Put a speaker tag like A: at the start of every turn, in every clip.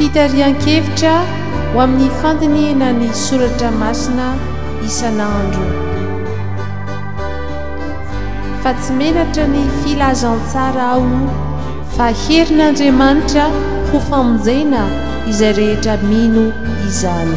A: Fitarihan-kevitra ho amin'ny fandinihina ny soratra masina isan'andro. Fa tsy menatra ny filazantsara aho fa herin'Andriamanitra ho famonjena izay rehetra mino izany.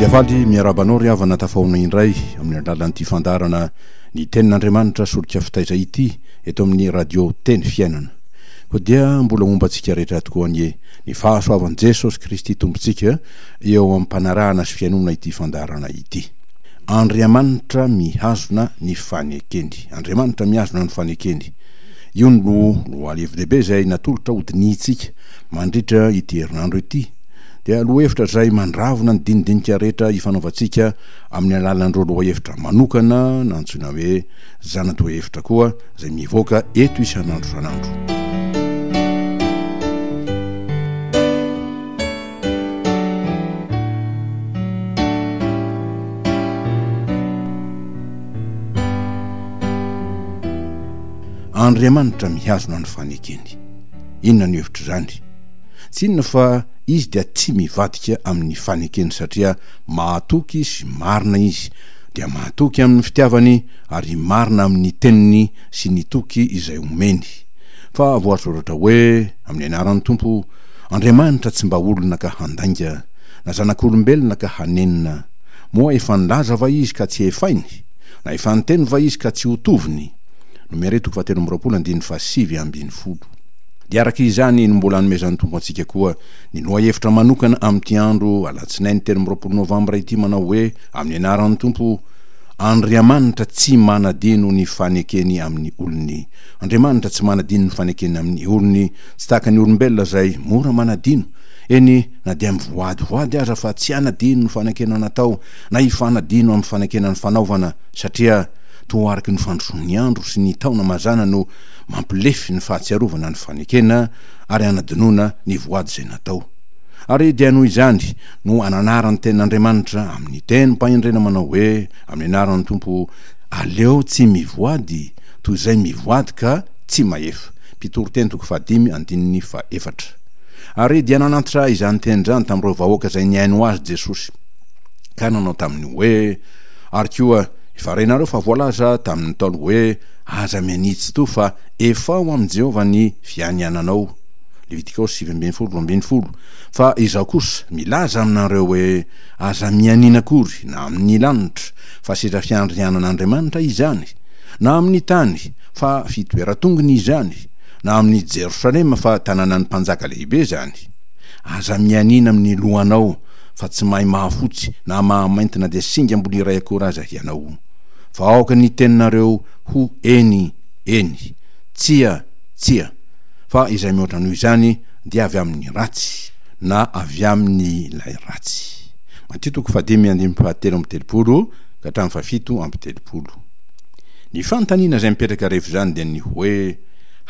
B: Dia faly miaraba anao ry havana tafahoana indray amin'ny alalan'ity fandaharana ny tenin'Andriamanitra solika fitaiza ity eto amin'ny radio teny fiainana. Koa dia mbola momba antsika rehetra tokoa anie ny fahasoavan'i Jesosy Kristy Tompontsika eo am-panarahana sy fihainoana ity fandaharana ity. Andriamanitra mihazona ny fanekeny. Andriamanitra mihazona ny fanekeny. Io no lohalevin-dehibe izay natolotra ho dinihintsika. Mandritra ity herinandro ity dia lohahevitra izay mandravona ny dinidinika rehetra ifanaovantsika amin'ny alalan'ireo lohahevitra manokana na antsoina hoe zana-dohahevitra koa izay mivoaka eto isan'andro isan'andro. Andriamanitra mihazona ny fanekeny. Inona ny hevitr'izany? Tsy inona fa izy dia tsy mivadika amin'ny fanekeny satria mahatoky sy marina izy, dia mahatoky amin'ny fitiavany ary marina amin'ny teniny sy ny toky izay omeny. Fa voasoratra hoe, Amin'ny anaran'ny Tompo, Andriamanitra tsy mba olona ka handainga, na zanak'olombelona ka hanenina. Moa efa nilaza va izy ka tsy hefainy? Na efa niteny va izy ka tsy ho toviny? Nomerey toko fahatelo amby roapolo andininy fahasivy ambin'ny folo. Dia araka izany no mbola anomezan'ny Tompo antsika koa ny lohahevitra manokana amin'ity andro alatsinainy telo amby roapolo novambra ity manao hoe, amin'ny anaran'ny Tompo, Andriamanitra tsy manadino ny fanekeny amin'ny olony. Andriamanitra tsy manadino ny fanekeny amin'ny olony, tsy tahaka ny olombelona izay mora manadino, eny na dia mivoadyvoady aza fa tsy hanadino ny fanekena natao na hifanadino amin'ny fanekena nifanaovana, satria Toa araka ny fandrosoan'ny andro sy ny taona mazàna no mampilefy ny fahatsiarovana ny fanekena ary hanadinoana ny voady izay natao. Ary dia noho izany no ananaran'ny Tenin'Andriamanitra amin'ny tenim-pahendrena manao hoe, Amin'ny anaran'ny Tompo, aleo tsy mivoady toy izay mivoady ka tsy mahefa. Mpitoriteny toko fahadimy andininy fahefatra. Ary dia nanantitra izany teny izany tamin'ireo vahoaka izay nihaino azy Jesosy, ka nanao taminy hoe, Ary koa, Efa renareo fa voalaza tamin'ny Ntaolo hoe aza mianitsy toa fa efao amin'i Jehovah ny fianiananao, Levitikaosy sivy ambin'ny folo, roa ambin'ny folo, fa izaho kosa milaza aminareo hoe aza mianiana akory na amin'ny lanitra, fa seza fiandrianan'Andriamanitra izany, na amin'ny tany, fa fitoeran-tongony izany, na amin'i Jerosalema, fa tanànan'ny mpanjaka lehibe izany. Aza mianiana amin'ny lohanao, fa tsy mahay mahafotsy na mahamainty na dia singa mbola iray akory aza hianao. Fa aoka ny teninareo ho Eny, eny. Tsia, tsia. Fa izay mihoatra noho izany dia avy amin'ny ratsy, na avy amin'ilay ratsy. Matio toko fahadimy andininy fahatelo amby telopolo ka hatramin'ny fahafito amby telopolo. Ny fanontaniana izay mipetraka rehefa izany dia ny hoe,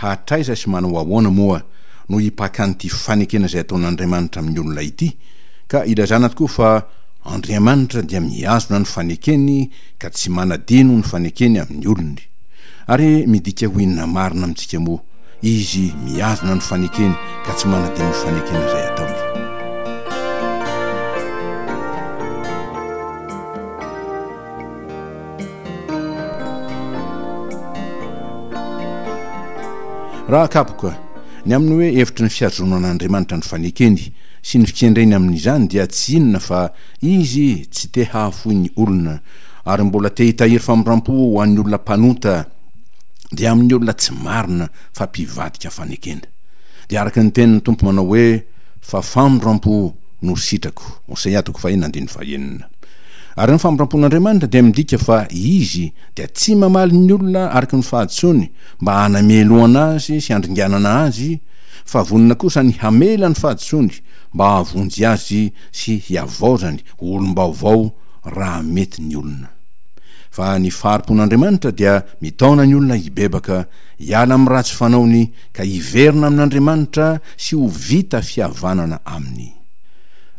B: Hatraiza sy manao ahoana moa no hipaka an'ity fanekena izay ataon'Andriamanitra amin'ny olona ity, ka hilazana tokoa fa Andriamanitra dia mihazona ny fanekeny ka tsy manadino ny fanekeny amin'ny olony. Ary midika ho inona marina amintsika moa Izy mihazona ny fanekeny ka tsy manadino ny fanekena izay ataony? Raha kapoka, ny amin'ny hoe hevitry ny fihazoana an'Andriamanitra ny fanekeny sy ny fikendreny amin'izany dia tsy inona fa Izy tsy te hahafoy ny olona ary mbola te hitahiry famindrampo ho an'ny olona mpanota dia amin'ny olona tsy marina fa mpivadika fanekena. Dia araka ny tenin'ny Tompo manao hoe fa famindrampo no sitrako, Hosea toko faheno andininy fahenina. Ary ny famindram-pon'Andriamanitra dia midika fa Izy dia tsy mamaly ny olona araka ny fahadisoany mba hanamelohana azy sy handringanana azy, fa vonona kosa ny hamela ny fahadisoany mba hahavonjy azy sy hihavaozany ho olom-baovao raha mety ny olona. Fa ny fahari-pon'Andriamanitra dia mitaona ny olona hibebaka, hiala amin'ny ratsy fanaony ka hiverina amin'Andriamanitra sy ho vita fihavanana Aminy.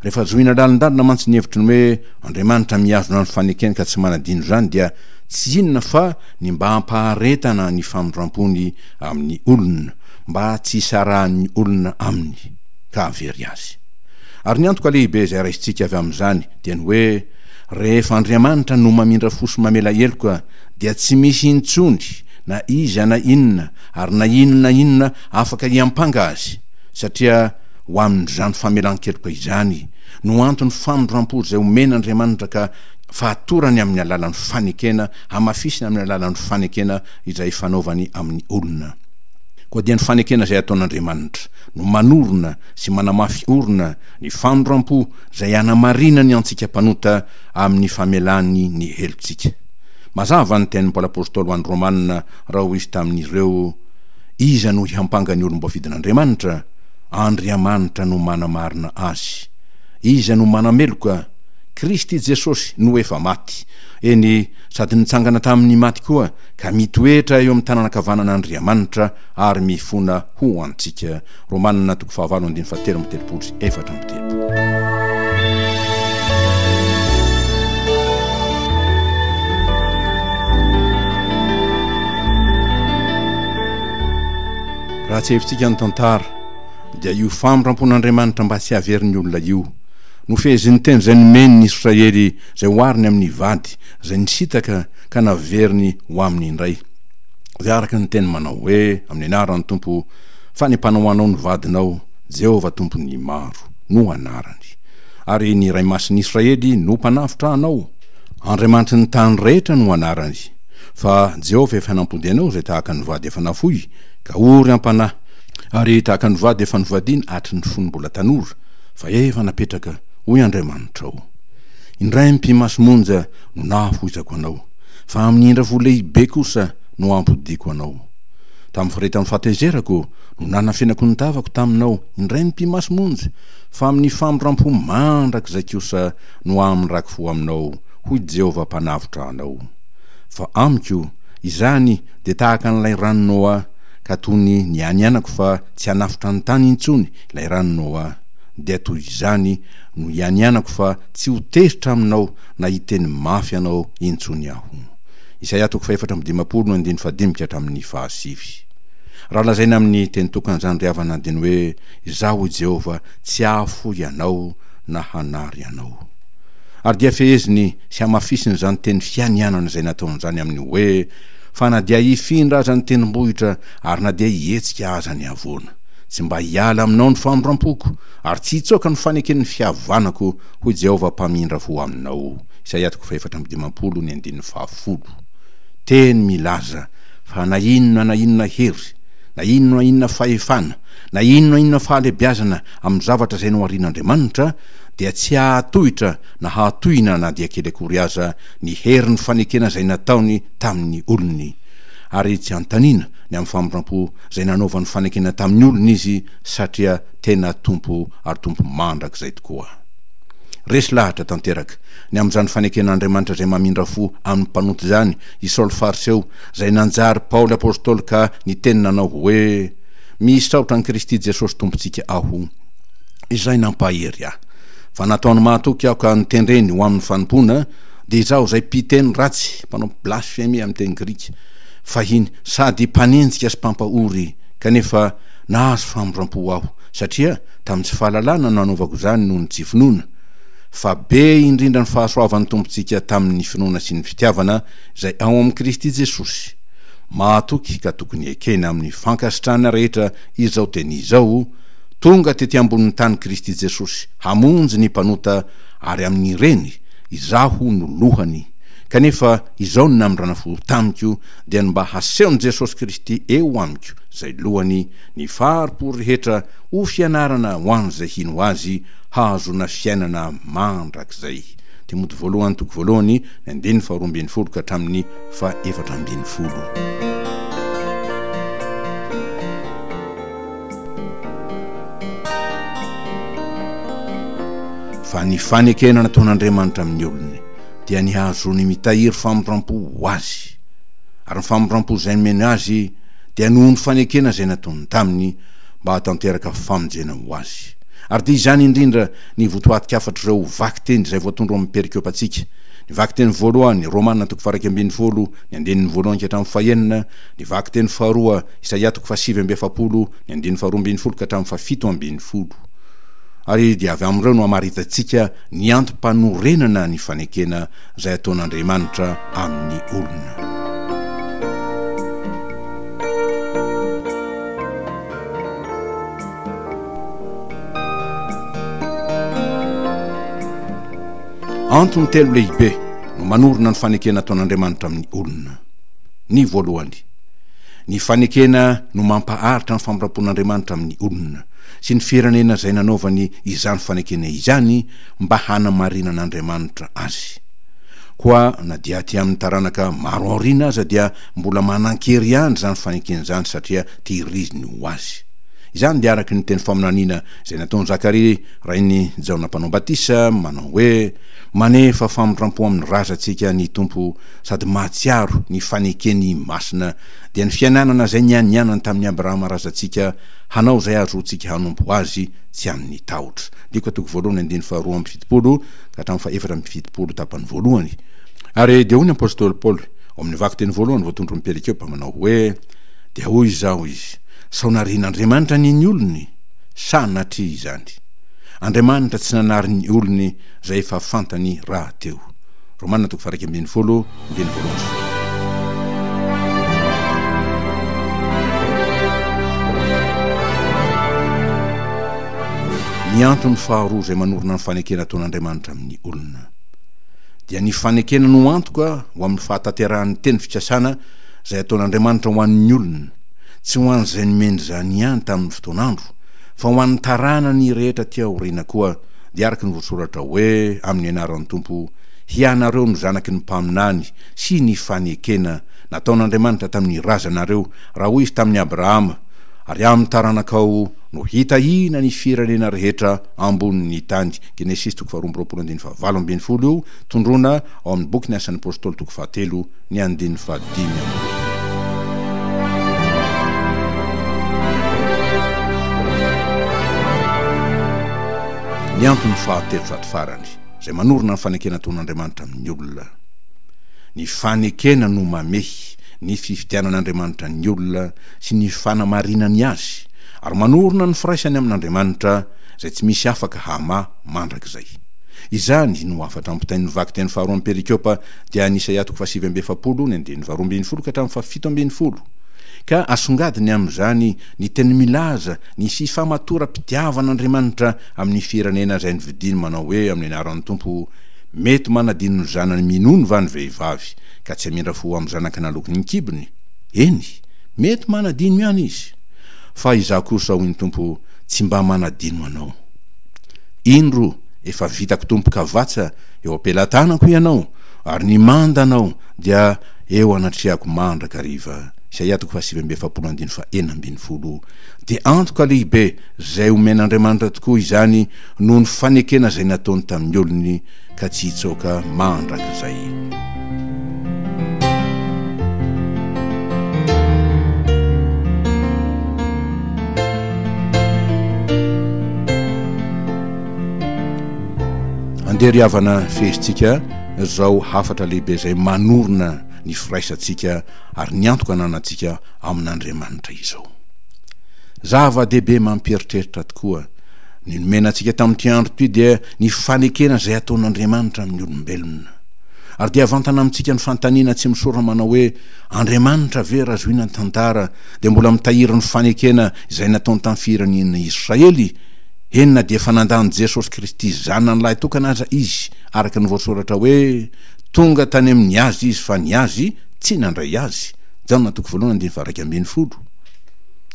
B: Rehefa zohina lalindalina mantsy ny hevitry ny hoe Andriamanitra mihazona ny fanekeny ka tsy manadino izany dia tsy inona fa ny mba hampaharetana ny famindram-pony amin'ny olona, mba tsy hisarahan'ny olona Aminy, ka hahavery azy. Ary ny antoka lehibe izay raisintsika avy amin'izany dia ny hoe rehefa Andriamanitra no mamindra fo sy mamela heloka dia tsy misy intsony na iza na inona ary na inona inona afaka hiampanga Azy, satria Ho amin'izany famelan-keloka izany no anton'ny famindram-po izay omen' Andriamanitra ka fahatorany amin'ny alalan'ny fanekena, hamafisiny amin'ny alalan'ny fanekena izay fanaovany amin'ny olona. Koa dia ny fanekena izay ataon' Andriamanitra no manorina sy manamafy orina ny famindram-po izay hanamarinany antsika mpanota amin'ny famelany ny helontsika. Mazava ny tenin'i Paoly Apôstôly ho an'ny Rômana raha hoy izy tamin'ireo, Iza no hihampanga ny olom-boafidin' Andriamanitra? Andriamanitra no manamarina azy. Iza no manameloka? Kristy Jesosy no efa maty, eny, sady nitsangana tamy ny maty koa, ka mitoetra eo amy tananankavanana Andriamanitra ary mifona ho antsika. Romana toko fahavalo andininy fahatelo amby telopolo sy efatra amby telopolo. Raha tsiahivitsika ny tantara dia io famrampon'Andriamanitra mba tsy haverin'ny olona io no fehezin'ny teny izay nomeny ny Israely izay ohariny amin'ny vady izay nisitaka ka naveriny ho aminy indray izay araka ny teny manao hoe amin'ny anaran'ny Tompo fanepana ho anao ny vadinao Jehovah Tompon'ny maro no anarany ary ny Iray Masin'Israely no mpanavotra anao Andriamanitry ny tany rehetra no anarany Fa Jehovah efa nampody anao izay tahaka ny vady efa nafoy, ka ory am-panahy, ary tahaka ny vady efa novadiana hatry ny fony mbola tanora, fa efa napetraka, hoy Andriamanitrao. Indray mpimasy monja no nahafoizako anao, fa amin'ny indrafo lehibe kosa no hampodiako anao. Tamin'ny faritany fahatezerako no nanafenako ny tavako taminao, indray mpimasy monja, fa amin'ny famindram-po mandrakizay kosa no hamindrako fo aminao, hoy Jehovah Mpanavotra anao. Fa amiko, izany dia tahaka an'ilay ràn'i Noa, ka toy ny nianianako fa tsy hanafotra ny tany intsony ilay ràn'i Noa, dia toy izany no ianianako fa tsy ho tezitra aminao na hiteny mafy anao intsony aho. Isaia toko fahefatra amby dimampolo no andininy fahadimy ka hatramin'ny fahasivy. Raha lazaina amin'ny teny tokana izany ry havana andiny hoe, Izaho hoy Jehovah tsy hahafoy anao na hanary anao. Ary dia feheziny sy hamafisina izany teny fianianana izay nataony izany amin'ny hoe, Fa na dia hifindra aza ny tendrombohitra, ary na dia hihetsika aza ny havoana, tsy mba hiala aminao ny famindram-poko, ary tsy hitsoaka ny faneken'ny fihavanako, hoy Jehovah Mpamindra fo aminao. Isaia toko fahefatra amby dimampolo, ny andininy fahafolo. Teny milaza fa na inona na inona hery, na inona na inona fahefana, na inona na inona fahalehibiazana amin'ny zavatra izay noharian'Andriamanitra, dia tsy hahatohitra na hahatohina na dia kely akory aza ny herin'ny fanekena izay nataony tamin'ny olony. Ary tsy anontaniana ny amin'ny famindrampo izay nanaovany fanekena tamin'ny olony izy satria tena Tompo ary Tompo mandrakizay tokoa. Resy lahatra tanteraka ny amin'izany faneken'Andriamanitra izay mamindra fo amin'ny mpanota izany i Saoly Fariseo izay nanjary Paoly Apostoly ka niteny nanao hoe, Misaotra an'i Kristy Jesosy Tompontsika aho izay nampahery ahy. Fa nataony mahatoky aho ka notendreny ho amin'ny fanompoana, dia izaho izay mpiteny ratsy, mpanao blasfemia amin'ny teny grika fahiny, sady mpanenjika sy mpampahory, kanefa nahazo famindram-po aho, satria tamin'ny tsy fahalalana no nanaovako izany noho ny tsy finoana. Fa be indrindra ny fahasoavan'ny Tompontsika tamin'ny finoana sy ny fitiavana izay ao amin'i Kristy Jesosy. Mahatoky ka tokony ekena amin'ny fankasitrahana rehetra izao teny izao, Tonga tety ambonin'ny tany Kristy Jesosy hamonjy ny mpanota ary amin'ireny izaho no lohany. Kanefa izao ny namindrana fo tamiko dia ny mba hasehon'i Jesosy Kristy eo amiko izay lohany ny fari-po rehetra ho fianarana ho an'izay hino Azy hahazoana fiainana mandrakizay. Timoty Voalohany toko voalohany ny andininy faharoa ambin'ny folo ka hatramin'ny fahefatra ambin'ny folo. Fa ny fanekena nataon'Andriamanitra amin'ny olony dia ny hahazoany mitahiry famindrampo ho Azy. Ary ny famindrampo izay nomeny azy dia noho ny fanekena izay nataony taminy mba hahatanteraka famonjena ho azy. Ary dia izany indrindra ny votoatin-kafatr'ireo vakiteny izay voatondro amin'ny perikopantsika. Ny vakiteny voalohany, Romana toko faha-iraika ambin'ny folo, ny andininy voalohany ka hatramin'ny fahenina, ny vakiteny faharoa, Isaia toko fahasivy amby efapolo, ny andininy faharoa ambin'ny folo ka hatramin'ny fahafito ambin'ny folo. Ary dia avy amin'ireo no hamaritantsika ny antom-panorenana ny fanekena izay ataon'Andriamanitra amin'ny olona. Antony telo lehibe no manorina ny fanekena ataon'Andriamanitra amin'ny olona. Ny voalohany, Ny fanekena no mampaharitra ny famindram-pon'Andriamanitra amin'ny olona, sy ny firenena izay nanaovany izany fanekena izany mba hanamarinan'Andriamanitra azy. Koa na dia aty amin'ny taranaka maro aoriana aza dia mbola manan-kery ihany izany fanekena izany satria tehiriziny ho azy. Izany dia araka ny teny faminaniana izay nataon'i Zakaria rain'i Jaona Mpanao Batisa manao hoe, Manefa famindram-po amin'ny razantsika ny Tompo sady mahatsiaro ny fanekeny masina, dia ny fiainanana izay nianianany tamin'i Abrahama razantsika hanao izay ahazoantsika hanompo Azy tsy amin'ny tahotra. Diko toko voalohany andininy faharoa amby fitopolo ka hatramin'ny fahefatra amby fitopolo tapany voalohany. Ary dia hoy ny apostoly Paoly ao amin'ny vakiteny voalohany voatondron'i Perikopa manao hoe, Dia hoy izaho, hoy izy, sao narian'Andriamanitra anie ny olony? Sa natria izany? Andriamanitra tsy nanary ny olony izay efa fantany rahateo. Romana toko faha-iraika ambin'ny folo, ny teny voalohany. Ny antony faharoa izay manorina ny fanekena ataon'Andriamanitra amin'ny olona dia ny fanekena no antoka ho amin'ny fahatanterahan'ny teny fikasana izay ataon'Andriamanitra ho an'ny olona, tsy ho an'izay nomeny izany ihany tamin'ny fotoan'andro, fa ho an'ny taranany rehetra aty aoriana koa, dia araka ny voasoratra hoe, Amin'ny anaran'ny Tompo, hianareo no zanaky ny mpaminany, sy ny fanekena nataon'Andriamanitra tamin'ny razanareo, raha hoy Izy tamin'i Abrahama, Ary amin'ny taranakao no hitahina ny firenena rehetra ambonin'ny tany. Genesisy toko faharoa amby roapolo andininy fahavalo ambin'ny folo io tondroana ao amin'ny boky Ny Asan'ny Apostoly toko fahatelo. ny andininy fahadimy amby roapolo. Ny antony fahatelo sady farany, izay manorina ny fanekena ataon'Andriamanitra amin'ny olona. Ny fanekena no mamehy ny fifidianan'Andriamanitra ny olona sy ny fanamarinany azy, ary manorina ny firaisany amin'Andriamanitra, izay tsy misy afaka hamaha mandrakizay. Izany no hafatra ampitain'ny vakiteny faharoan'ny perikopa dia any Isaia toko fahasivy amby efapolo ny andininy faharoa ambin'ny folo ka hatramin'ny fahafito ambin'ny folo, ka asongadiny amin'izany ny teny milaza ny hisihy famatoram-pitiavan'Andriamanitra amin'ny firenena izay novidiny manao hoe amin'ny anaran'ny Tompo, Mety manadino ny zanany minono va ny vehivavy ka tsy hamindra fo amin'ny zanaka naloky ny kibony? Eny, mety manadino ihany izy. Fa Izaho kosa, hoy ny Tompo, tsy mba manadino anao. Indro, efa vitako Tompo ka vatsa, Eo am-pelatanako Hianao, ary ny manda Anao dia eo anatrehako mandrakariva. Isaia toko fahasivy amby efapolo andininy fahenina ambin'ny folo. Dia antoka lehibe izay omen'Andriamanitra tokoa izany noho ny fanekena izay nataony tamin'ny olony ka tsy hitsaoka mandrakizay. Andeha ry havana fehezintsika izao hafatra lehibe izay manorina ny firaisantsika ary ny antoka ananantsika amin'Andriamanitra izao. Zava-dehibe mampieritreritra tokoa ny nomena antsika tamin'ity andro ity dia ny fanekena izay ataon'Andriamanitra amin'ny olombelona. Ary dia vantana amintsika ny fanontaniana tsy misaora manao hoe, Andriamanitra ve raha zohina ny tantara dia mbola mitahiry ny fanekena izay nataony tamin'ny firenena Israely? Eny na dia efa nanda an'i Jesosy Kristy Zanany lahitokana aza izy, araka ny voasoratra hoe, Tonga tany amin'ny azy izy, fa ny azy tsy nandray azy, Jaona toko voalohany andininy faharaika ambin'ny folo,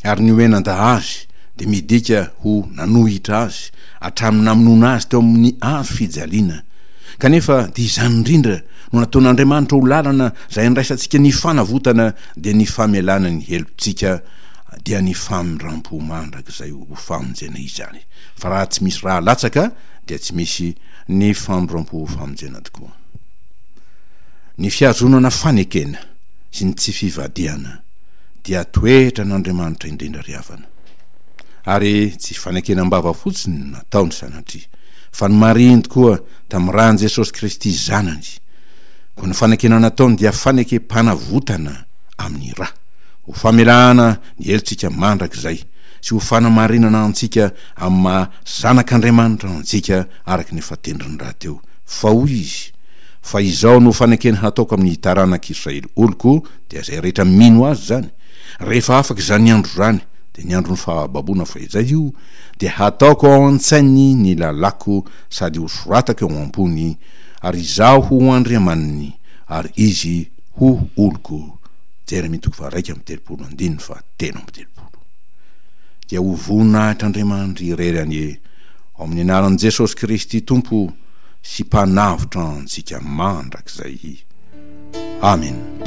B: ary ny hoe nanda azy dia midika ho nanohitra azy hatramin'ny namonoana azy teo amin'ny hazo fijaliana. Kanefa dia izany indrindra no nataon'Andriamanitra ho lalana izay handraisantsika ny fanavotana, dia ny famelana ny helotsika, dia ny famindram-po mandrakizay. ho famonjena izany. Fa raha tsy misy ra latsaka dia tsy misy ny famoram-po famonjena tokoa. Ny fihazonana fanekena sy ny tsy fivadihana dia toetra an'Andriamanitra indrindra ry havana. Ary tsy fanekena am-bava fotsiny no nataony sanatria, fa nomarihiny tokoa tamin'ny ran'i Jesosy Kristy Zanany. Koa ny fanekena nataony dia fanekem-panavotana amin'ny ra, ho famelana ny helotsika mandrakizay, sy ho fanamarinana antsika amin'ny maha zanak'Andriamanitra antsika araka ny efa tendriny rahateo. Fa hoy izy, Fa izao no fanekena hataoko amin'ny taranak'Israely oloko, dia izay rehetra mino azy izany, rehefa afaka izany andro izany, dia ny andron'ny fahababoana fahizay io, dia hataoko ao an-tsainy ny lalàko sady hosoratako eo am-pony, ary izaho ho Andriamaniny, ary izy ho oloko. Jeremia toko faha-iraika amby telopolo andininy fahatelo amby telopolo. dia ho voninahitr'Andriamanitra irery anie ao amin'ny anaran'i Jesosy Kristy Tompo sy Mpanavotra antsika mandrakizay. Amena.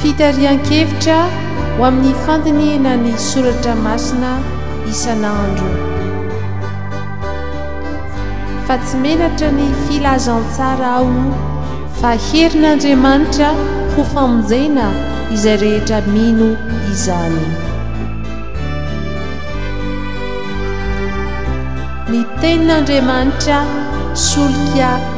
A: Fitarihan-kevitra ho amin'ny fandinihina ny soratra masina isan'andro. Fa tsy menatra ny filazantsara aho fa herin'Andriamanitra ho famonjena izay rehetra mino izany. Ny Tenin'Andriamanitra solika.